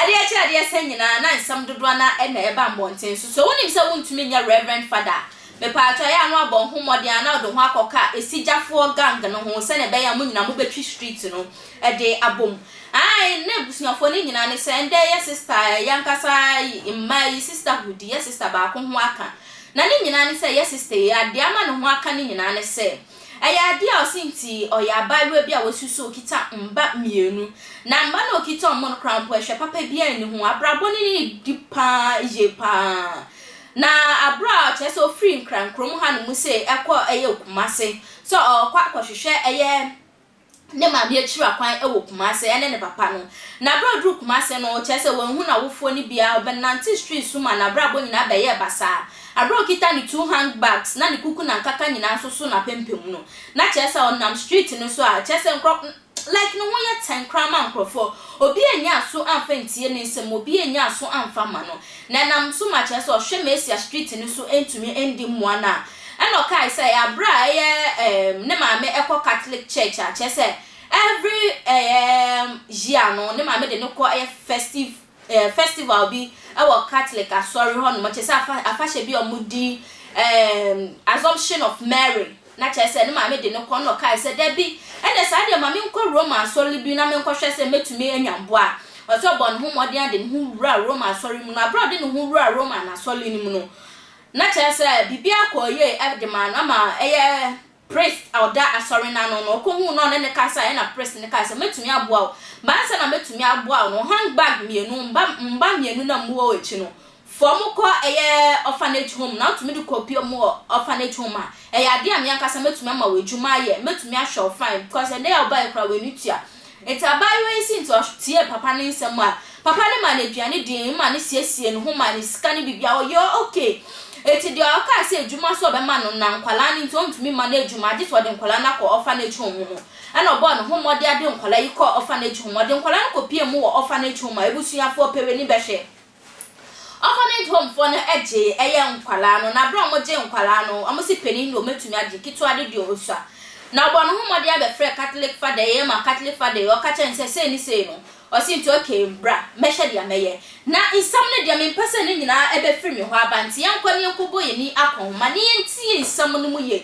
Adeɛ akyi adeɛ asa nyinaa na nsɛm dodoɔ no ara na ɛba mmɔnten so. So wonim sɛ wontumi nyɛ Reverend Fada a? Mepaatɔ ɛyɛ a na wabɔ ho mmɔden anaa ɔde ho akɔka ɛsigyafoɔ gang no ho sɛdeɛ ɛbɛyɛ a mo nyinaa mobɛtwi street no. de abom. Ae, ne abusuafoɔ no nyinaa ne sɛ ɛndɛ yɛ sista, yɛ ankasa mmaa yi sisterhood, yɛ sista baako ho aka. Na ne nyinaa ne sɛ yɛ sista yi, adeɛ ama ne ho aka no nyinaa ne sɛ, ɛyɛ adeɛ a ɔse nti ɔyɛ abaayewa bi a wasi so, ɔkita mma mmienu. Na mma no a ɔkita wɔn no koraa mpo ɛhwɛ papa biara nni ho, abrabɔ no ne di pa ara yie pa ara. Na aberɛ a kyerɛ sɛ ɔfiri Nkran kurom hanom sei ɛkɔ ɛyɛ Kumase sɛ ɔrekɔ akɔhwehwɛ ɛyɛ, ne maame akyiri akwan wɔ Kumase, ɛne ne papa no. Na bere a oduu Kumase no, kyerɛ sɛ wanhu n'awofoɔ no biara, ɔbɛnantee streets so maa n'abrabɔ nyinaa bɛyɛɛ basaa. Bere a okita ne two handbags na ne kuku na nkaka nyinaa nso so n'apampam no, na kyerɛ sɛ ɔnam street no so a, kyerɛ sɛ nkurɔ like ne ho yɛ tɛnn koraa ma nkurɔfoɔ. Obi annya aso amfa antie ne nsɛm, obi annya aso amfa amma no. Na ɛnam so ma kyerɛ sɛ ɔhwɛ Mesia Street no so ntumi ndi mmoa no a Ɛna ɔkae sɛ bere a ɛyɛ um ne maame kɔ Catholic church a, kyerɛ sɛ every um year no ne maame de no kɔ ɛyɛ festive eh, festival bi wɔ Catholic asɔre hɔnom, kyerɛ sɛ afa, afahyɛ bi a wɔdi um, Assumption of Mary. Na kyerɛ sɛ ne maame de no kɔ, na ɔkae sɛ dabi, ɛnna saa deɛ ma menkɔ Roma asɔre bi na menkɔhwɛ sɛ mɛtumi anya mmoa. Ɔsɛ ɔbɔ ne ho mmɔden ade ne ho wura Roma asɔre mu, na bere a ɔde ne ho wura Roma n'asɔre no mu no, Na kyerɛ sɛ biribiara kɔɔ yie de maa no, ama ɛyɛ priest a ɔda asɔre no ano no, ɔkɔhuu no a ɔne no kasaeɛ, ɛnna priest no kae sɛ, Mɛtumi aboa wo. Ba ansa na mɛtumi aboa wo no, handbag mmienu, mma wo mma mmienu na mmu wɔn akyi no, fa wɔn kɔ ɛyɛ orphanage home na wotumi de kɔpue wɔn wɔ orphanage home a, ɛyɛ adeɛ a me ankasa mɛtumi ama wo adwuma ayɛ, mɛtumi ahwɛ wo fine, because ɛnnɛ yi a wobaeɛ koraa w'ani tua, Ntsi abaayewa yi sii ntsɛwa tsiee papa ne nsɛm a papa no maa no eduane dii, maa no siesiee no ho, maa no sika ne biribiara, ɔyɛɛ okay. Ntsi deɛ ɔkaa sɛ edwuma so ɔbɛma no na nkwadaa no ntsi onntumi mma no edwuma agye sɛ ɔde nkwadaa no akɔ orphanage home mu no, nna ɔbɔɔ no ho mmɔden de nkwadaa yi kɔɔ orphanage home. Ɔde nkwadaa no kɔpuee mu wɔ orphanage home a ebusuafoɔ pɛ w'ani bɛhwɛ. Orphanage home foɔ no gye ɛyɛ nkwadaa no na berɛ a wɔgye nkwadaa no wɔn se panin deɛ wɔbɛtumi agye ketewa de deɛ ɔsua na ɔbɔ ne ho mmɔden abɛfrɛ Catholic father yi ma Catholic father yi ɔka kyerɛ no sɛ sei ne sei no ɔse nti okay bra mɛhwɛ deɛ mɛyɛ na nsɛm no deɛ mempɛ sɛ ne nyinaa ɛbɛfiri me hɔ aba nti yɛnkɔ ne yɛnkɔbɔ yɛn ani akɔnhoma na yɛntie nsɛm no mu yie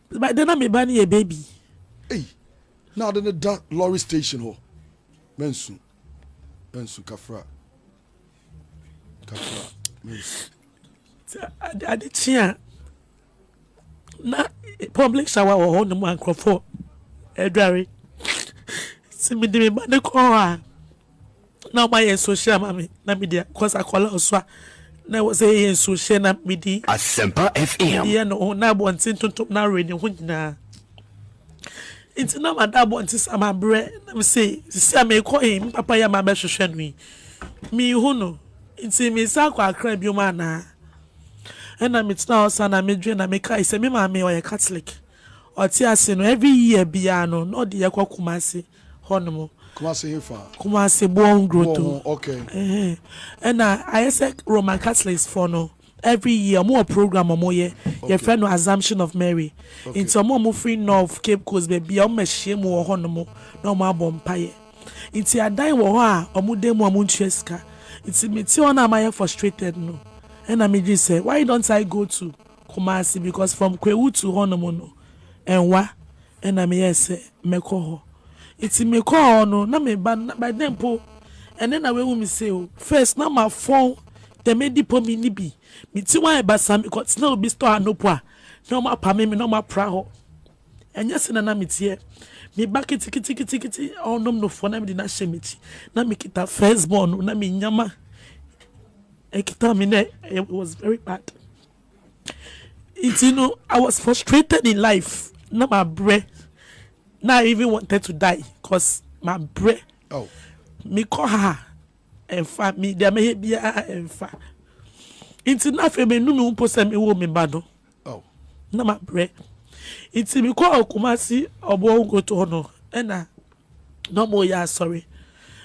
By then na me ba no yɛ baby. Ei, na ade no da lorry station hɔ. Mansu, mansu, Kafra, Kafra, mansu. Sɛ ade, ade kye a, na public shower wɔ hɔ nom a nkurɔfoɔ adware. Sɛ mede me ba no kɔ hɔ a, na ɔma yɛ nsuo hyɛ ama me na medi a cause akwadaa ɔso a na ɛwɔ sɛ yɛyɛ nsuo hyɛ na medi Asempa FM medi yɛ ne ho na abɔnten tontom na awe ne ho nyinaa nti na mada abɔnten sa ma brɛ na me se sisi a mekɔ yi me papa yɛ ma bɛhwehwɛ no yi mehu no nti mesa akɔ akra biom anaa ɛna metena hɔ sa na medwe na mekae sɛ me maame ɔyɛ catholic Ɔte ase no every year biaa no na ɔde yɛ kɔ Kumasi hɔ nom. Kumasi he fa? Kumasi boɔ ho growth ho. Boɔ ho ok. Ɛhɛn ɛna ayɛ sɛ Roman Catholics foɔ no every year ɔmo wɔ program ɔmo yɛ yɛfrɛ no Assumption of Mary nti ɔmo a ɔmo firi North Cape Coast bɛbia ɔmo bɛ hyia mu wɔ hɔ nom na ɔmo abɔ mpaeɛ nti adan wɔ hɔ a ɔmo da mu a ɔmo ntua sika nti me te hɔ na mayɛ frustrated no ɛna me dwene sɛ why don't I go to Kumasi because from Kwewu to hɔ nom no Ɛnwa ɛna me yɛɛ sɛ mɛkɔ hɔ nti me kɔɔ hɔ no na me ba no by then mpo ɛnɛ na w'ahu me sei o first na ma fɔn dɛm adipo me nni bi me ti ho ayɛ basaa me kɔ tena obi store ano mpo a na ɔmo apame me na ɔmo apra hɔ ɛnyɛ sɛ na na me teɛ me ba kitikitikiti ɔnom no fɔ na me de na hyɛ me ti na me kita first born no na me nyama ɛkita me nɛ it was very bad. Nti no, I was frustrated in life. Na mabrɛ. Na I even wanted to die cos mabrɛ. Oh. Mekɔ ha a, ɛmfa. Me deɛ mɛyɛ biara ɛmfa. Nti na afei menu me ho mpo sɛ mewɔ me ba no. Oh. Na mabrɛ. Nti mekɔɔ Kumasi Ɔboɔ Nkoto hɔ no, ɛna na ɔmo reyɛ asɔre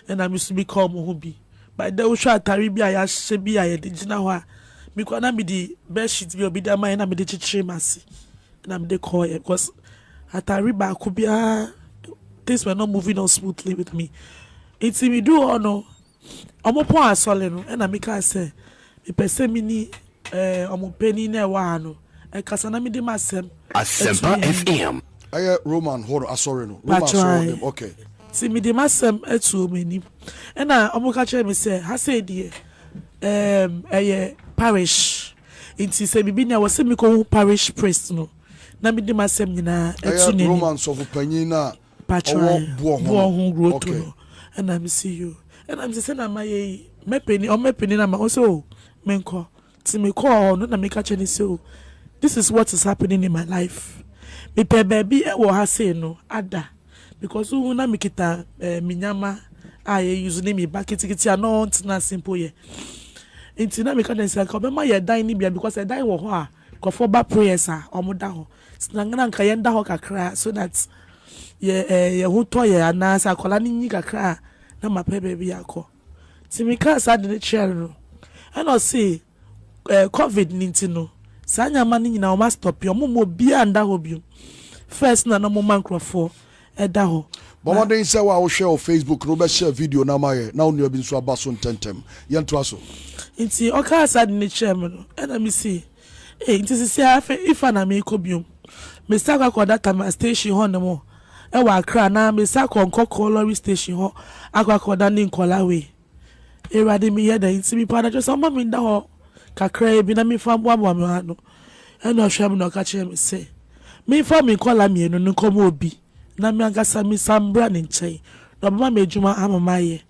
ɛna me so meka ɔmo ho bi but dɛ wohwɛ atare bi a yɛahyehyɛ bi a yɛde gyina hɔ a me kora na mede bed sheet bi a obi de ama yɛ na mede kyekyere m'ase na mede kɔɔyɛ because atare baako biara things were not moving on smoothly with me nti me duu hɔ no Wɔpɔɔ asɔre no, ɛnna mekaa sɛ, Mepɛ sɛ me ne wɔn panin a ɛwɔ ha no kasa na mede m'asɛm to ne anim. Ɛyɛ Roman hɔ no asɔre no. Roman asɔre no, okay. Nti mede m'asɛm to wɔn anim. Ɛnna wɔka kyerɛɛ me sɛ, Ha sei deɛ, ɛɛm, ɛyɛ parish. Nti sɛ biribi ni a, ɛwɔ sɛ mekɔhu parish priest no na mede m'asɛm nyinaa to n'anim. Ɛyɛ Roman sɔfo panyin no a ɔwɔ boɔ ho no ho guro to no ɛna me si yo ɛna me si sɛ na ma yɛ yi mɛpɛni ɔmɛ pɛni na ma ɔsɛ o me nkɔ ti me kɔɔ hɔ no na me ka kyɛ ne sɛ o this is what is happening in my life me pɛ baabi ɛwɔ ha sei no ada because wohu na me kita ɛɛ me nyama a yɛ use ne me ba kitikiti a na ɔntena ase mpo yɛ nti na me ka kyɛ ne sɛ nka ɔbɛma yɛ dan ne bia because ɛdan wɔ hɔ a nkurɔfoɔ ba prayers a wɔn da hɔ. Sna na nka yɛnda hɔ kakra so that yɛ eh, yɛn ho tɔ yɛn anaa sɛ akwadaa no nyi kakra a na mapɛ baabi akɔ. Nti mekaa saa ade no kyerɛɛ no ɛna ɔse eh, covid no nti no saa nneɛma no nyinaa wɔn astɔpe, wɔn mma obiara nda hɔ bio. First na na wɔma nkurɔfoɔ ɛda hɔ. Bɔ Na mmɔden sɛ wo a wohwɛ wɔ Facebook no wobɛ share video no ama yɛn na wo nua bi nso aba so ntɛntɛm. Yɛntoa so. Nti ɔkaa saa ade no kyerɛɛ me no ɛna mesee Enti sesei ara afei Ifa na merekɔ bio. Mesan akɔ akɔda Tamale station hɔ nom wɔ Accra anaa mesan akɔ Nkɔkɔɔ lorry station hɔ akɔ akɔda ne nkɔla wei. Awurade meyɛ dɛn? Nti mepɛ anadwo sɛ ɔmma me nda hɔ kakraa bi na memfa mboaboa me ho ano. Ɛna ɔhwɛɛ me na ɔka kyerɛɛ me se menfa me nkɔla mmienu no nkɔma obi. Na me ankasa misa mbra ne nkyɛn, na ɔbɛma me edwuma ama mayɛ.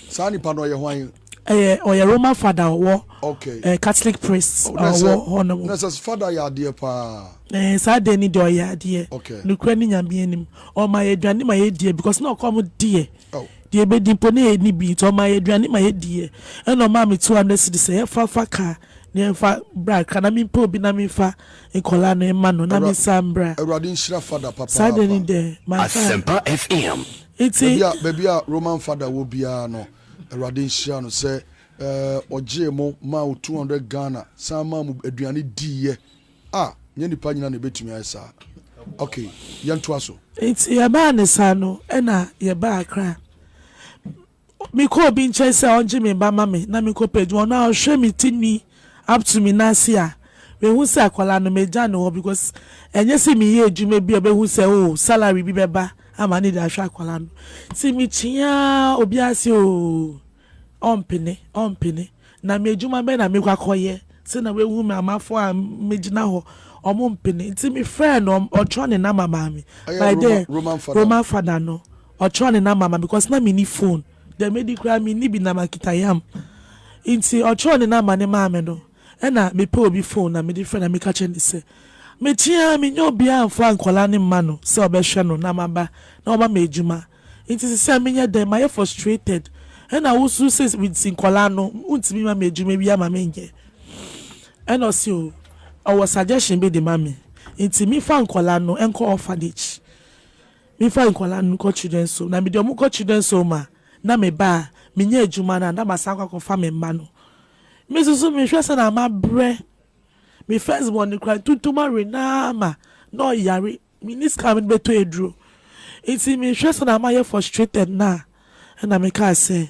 Saa nipa no ɔyɛ hwan? Ɛyɛ ɔyɛ Roman fada ɔwɔ okay ɛɛ Catholic priest ɔwɔ hɔ nom. Na sɛ fada yɛ adeɛ paa. Ɛɛ saa deɛ ni deɛ ɔyɛ adeɛ. Okay. Nukura ni nyamea nim. Ɔma yɛ aduane ma yɛ diɛ because na ɔkɔ ɔmo deɛ. Oh. Deɛ ebedi mpo na yɛ ni bi nti ɔma yɛ aduane ma yɛ diɛ. Ɛna ɔmaa me two hundred cedis sɛ yɛ fa fa car. Nea mfa bra ka na mempɛ obi na memfa nkɔlaa no mma no na mensan mbra. Awurade nhyira Fada papaapa. Saa deɛ ne dɛ manka. Asempa FM. Nti. Baabi a baabi a Roman Fada wɔ biara no Awurade nhyira no sɛ eh ɔgyee mo maa wo two hundred Ghana san maa mo aduane diiɛ ah nyɛ nipa nyinaa na ɛbɛtumi ayɛ saa ok yɛntoa so. Nti yɛbaa ne saa no ɛna yɛbaa Accra. Mekɔ obi nkyɛn sɛ ɔngye me ba ma me na menkɔpɛ adwuma, ɔno a ɔhwɛ me ti nwi up to me nan ase a, mehu sɛ akwadaa no magya no hɔ because ɛnyɛ sɛ meyɛ adwuma bi a ɔbɛhu sɛ oh salary bi bɛba ama ne de ahwɛ akwadaa no. Nti mekyea obi ase oo, ɔmpene, ɔmpene. Na me adwuma bɛn na mekɔ akɔyɛ sɛ na wahu me amafo a megyina hɔ, ɔmo mpene. Nti mefrɛɛ no, ɔtwerɛ ne number maa me. Ɛyɛ Roma, Roman father. Roman father no. Ɔtwerɛ ne number ma because na menni phone deɛ medi koraa menni bi na makita yam nti ɔtwerɛ ne number no maa me no ɛna mepɛ obi phone na mede frɛ na meka kyerɛ no sɛ mekye ara mennya obiara mfa nkwadaa no mma no sɛ ɔbɛhwɛ no na maba na wama me adwuma nti sesei menyɛ dɛn mayɛ frustrated ɛna wosuro sɛ nti nkwadaa no wontumi ma me adwuma bi ama menyɛ ɛna ɔse o ɔwɔ suggestion bi de ma me nti mefa nkwadaa no nkɔ orphanage. Mefa nkwadaa no kɔ children's home na mede wɔn kɔ children's home a, na meba a, menya adwuma no a, na masan akɔ akɔfa me mma no. Me nso so mehwɛ sɛnea mabrɛ. Me first born no koraa, ntuntuma awe no ara ma na ɔyare. Menni sika a mede bɛtɔ aduro. Nti mehwɛ sɛnea mayɛ frustrated no a, ɛnna mekaa sɛ,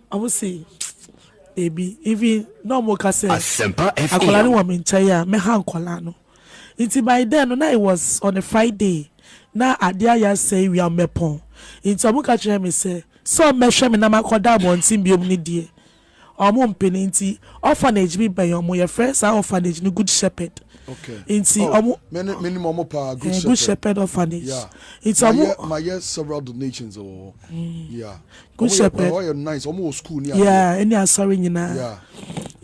Ɔmo se Dabi even na ɔmo ka sɛ akwadaa no wɔ me nkyɛn a mɛha nkwadaa no nti by then no na it was on a Friday na adeɛ ayɛ asɛe wia mmɛpɔn nti ɔmo ka kyerɛ me sɛ sɛ ɔmmɛhwɛ me na makɔda abɔnten biom ne deɛ ɔmo mpene nti orphanage bi bɛn ɔmo yɛfrɛ saa orphanage no Good Shepherd nti ɔmo menim ɔmo paa Good Shepherd orphanage nti ɔmo mayɛ several donations wɔ hɔ yeah Ɔmo yɛ paa, hɔ yɛ nice, ɔmo wɔ school ne adeɛ. Yeah, ɛne asɔre nyinaa. Yeah.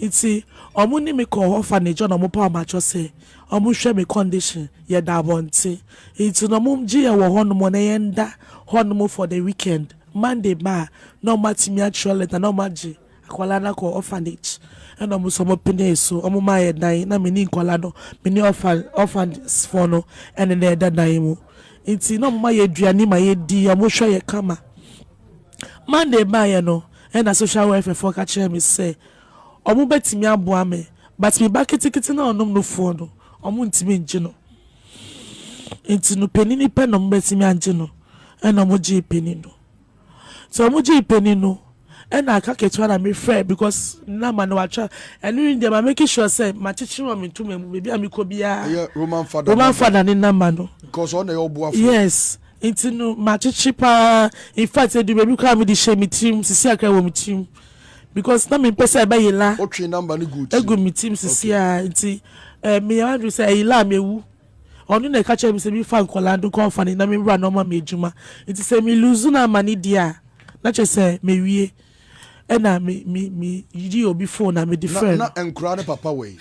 Nti, ɔmo ne me kɔɔ orphanage hɔ na ɔmo paw m'atwɔ sɛ ɔmo hwɛ me condition, yɛda abɔnten. Nti na ɔmo gye yɛn wɔ hɔnom na yɛnda hɔnom for the weekend. Monday ba a, na ɔmo atumi atwerɛ letter na ɔmo agye. Akwadaa no akɔ orphanage ɛna wɔn nso wɔn penee so wɔn maa yɛ dan na me ni nkwadaa no me ne orphan orphans foɔ no ɛne na ɛda dan mu nti na wɔn ma yɛ aduane ma yɛ di wɔn hwɛ yɛ kama Monday baa yɛ no ɛna social welfare foɔ ka kyerɛ me sɛ wɔn bɛtumi aboa me but me ba ketekete na ɔnom no foɔ no wɔn ntumi ngye no nti no panini pɛ na wɔn bɛtumi angye no ɛna wɔn gyee panini no. Nti ɔmo gyee panin no ɛna aka ketewa na me frɛ because na ma no watwa ɛno yi deɛ ma make sure sɛ ma kyekyere wɔ me ntoma mu baabi a me kɔ biara ɛyɛ roman father roman father ne nama no because ɔna ɛyɛ ɔboafo yes nti no ma kyekyere paa in fact edu baabi koraa me de hyɛ me tirim sisi akra wɔ me tirim because na me mpɛ sɛ ɛbɛyɛ la ɔtwe namba ne gu tirim egu me tirim sisi a nti ɛɛ eh, me yɛ wadwi sɛ ɛyɛ la a me ewu Ɔno na ɛka kyerɛɛ me sɛ me fa nkwadaa no nkɔ ɔfane na me wura na ɔma me adwuma. Nti sɛ me lose no ama no di a, na kyerɛ sɛ mawie. Ɛna me me me yi obi phone a me de frɛ no. Na na nkwadaa no papa wɛn?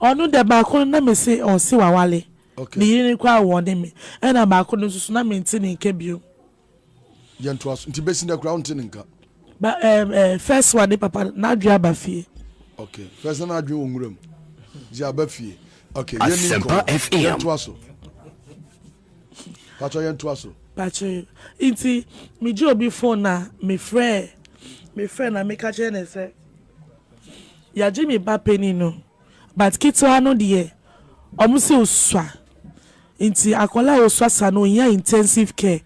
Ɔno dɛ baako no na me se ɔse wawale. Okay. Ne yere no koraa wɔ ne me. Ɛna baako no nso so na me nte ne nka biom. Yɛntoa so. Nti besi nnɛ koraa wonte ne nka? Ba ɛɛ ɛɛ first one ne papa n'adwene aba fie. Okay first na n'adwene wɔ nwura mu. Dzi aba fie. Okay yɛn ni nkɔmɔ. Yɛntoa so. Patro yɛntoa so. Patro nti me gye obi phone na me frɛ me frɛ na me ka kyerɛ ne sɛ yagye me ba panin no. But ketewa no deɛ ɔmo se osua nti akwadaa a osua saa no ohia intensive care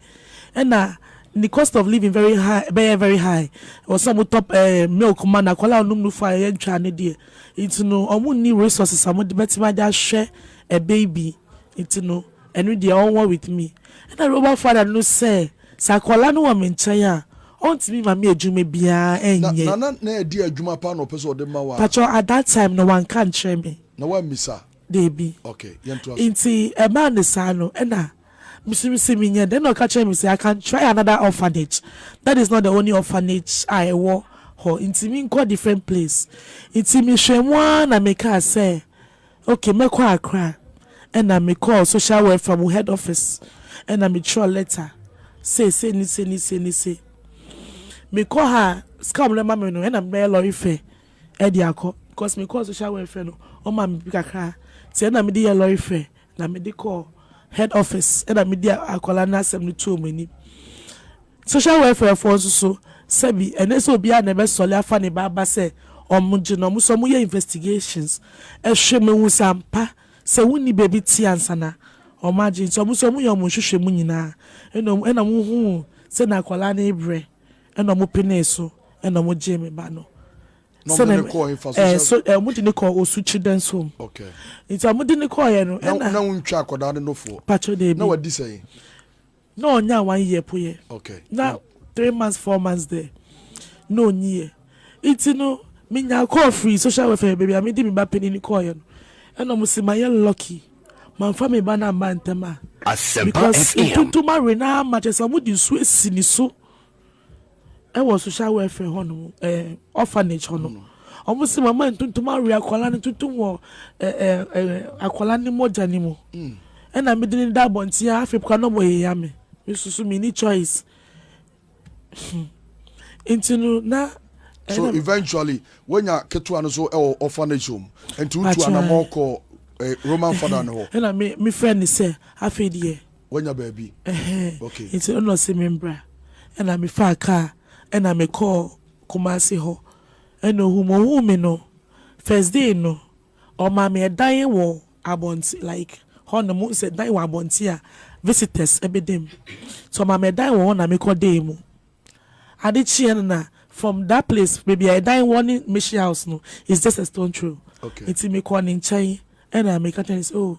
ɛna ne cost of living very high ɛbɛyɛ very high ɛwɔ sɛ ɔmo tɔ ɛɛ milk ma no akwadaa a ɔnom nufu a ɛyɛ ntwaa no deɛ nti no ɔmo nni resources a ɔmo de bɛtumi ade ahwɛ a baby. Nti no ɛno deɛ ɔnwɔ with me. Ɛna Robert father no sɛ, sɛ akwadaa no wɔ me nkyɛn a, ɔntumi mma me adwuma biara Na nyɛ. Nana na ɛdeɛ adwuma paa na ɔpɛ sɛ ɔde ma wo a? Pakyɛw at that time no wanka nkyerɛ me. Na wammisa? Dabi. Okay, yɛntoa so. Nti ɛbaa no saa no ɛna mesum se menyɛ dɛn? Ɛna ɔka kyerɛɛ me sɛ, I can try another orphanage, that is not the only orphanage a ɛwɔ hɔ, nti menkɔ different place. Nti mehwɛɛ mu ara na mekaa sɛ. Okay mɛkɔ Accra ɛna me kɔɔ social welfare mu head office ɛna me twerɛ letter sei sei ne sei ne sei ne sei me kɔ ha sika wɔn ɛma me no ɛna me bɛyɛ lorry fare ɛde akɔ because me kɔɔ social welfare no wɔn ma me bi kakra ti ɛna me de yɛ lorry fare na me de kɔɔ head office ɛna me de akwadaa no asɛm no tuo wɔn anim. Social welfare foɔ nso so sɛbi ɛnɛ sɛ obiara na ɛbɛsɔle afa ne ba aba sɛ ɔmo gye no ɔmo sɛ ɔmo yɛ investigations ɛhwɛ ma ehu sɛ ampa sɛ wo nni baabi te ansa na ɔmo agye nti ɔmo sɛ ɔmo yɛ ɔmo nhwehwɛ mu nyinaa ɛna ɔmo ɛna ɔmo huu sɛ na akwadaa no rebrɛ ɛna ɔmo penee so ɛna ɔmo gyee me ba no Na ɔmo de sɛnɛ no kɔɔ hefa ɛɛ social so ɛɛ ɔmo de no kɔɔ Osu Children's Home Okay nti ɔmo de no kɔɔɛ no na ɛna na wontwa akwadaa no nofoɔ patro na deebi wadi sɛn. Na ɔnyaa one year po yɛ na three months four months dɛ na ɔnyi yɛ nti no me nyaa call firi social welfare baabi a me de me ba panini kɔɔ yɛ no ɛna ɔmo se ma yɛ lucky ma nfa me ba no amma ntɛm a because ntuntuma we no ama kyerɛ sɛ ɔmo de nsuo asi ne so. Ɛwɔ social welfare hɔ nom ɛɛ orphanage hɔ nom ɔmo se mama ntontom awe akɔla no tontom wɔ ɛɛ ɛɛ akɔla ne mogya ne mu ɛna me de no da abɔnten a afei kora na ɔmo yaya me me soso me ni choice nti no na. so eventually wonya ketewa no so ɛwɔ orphanage home nti wotu anamɔ kɔ eh, roman father no hɔ. ɛna me me frɛ ne sɛ afei deɛ. Wanya baabi? Ɛhɛn. Okay. Nti no na ɔse me mbra. Ɛna me faa kaa ɛna me kɔɔ Kumasi hɔ. Ɛna ohuu me. Ohuu me no, first day no, ɔmaa me ɛdan wɔ abɔnten, like hɔ nom, wohu sɛ dan wɔ abɔnten a visitors ɛbɛda mu. Nti ɔmaa me ɛdan wɔ hɔ na me kɔ daa mu. Ade kyeeɛ no na from that place, baabi a ɛdan wɔ ne mission house no, it's just a stone throw. Okay. Nti me kɔɔ ne nkyɛn ɛna me ka kyerɛɛ no sɛ, oh,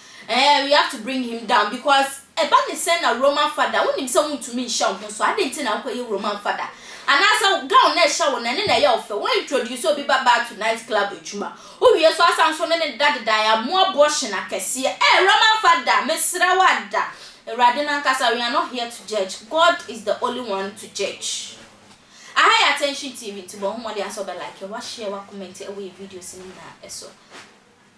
Eeh we have to bring him down because ɛba ne sɛn na Roman father wonim sɛ wontumi nhyɛ wo ho so adɛn nti na wokɔyɛ Roman father anaasɛ gown na ɛhyɛ wo no ɛne na ɛyɛ wo fɛ wo introduce obi ba baa to night club adwuma wowie so asan so ne ne deda dedaeɛ amu abortion akɛseɛ eh Roman father mesrɛ wo ada Awurade no ankasa we are not here to judge God is the only one to judge Aha yɛ Attention TV nti bɔ ho mmɔden ara sɛ wobɛ like, wa share, wa comment ɛwɔ yɛ videos no nyinaa so.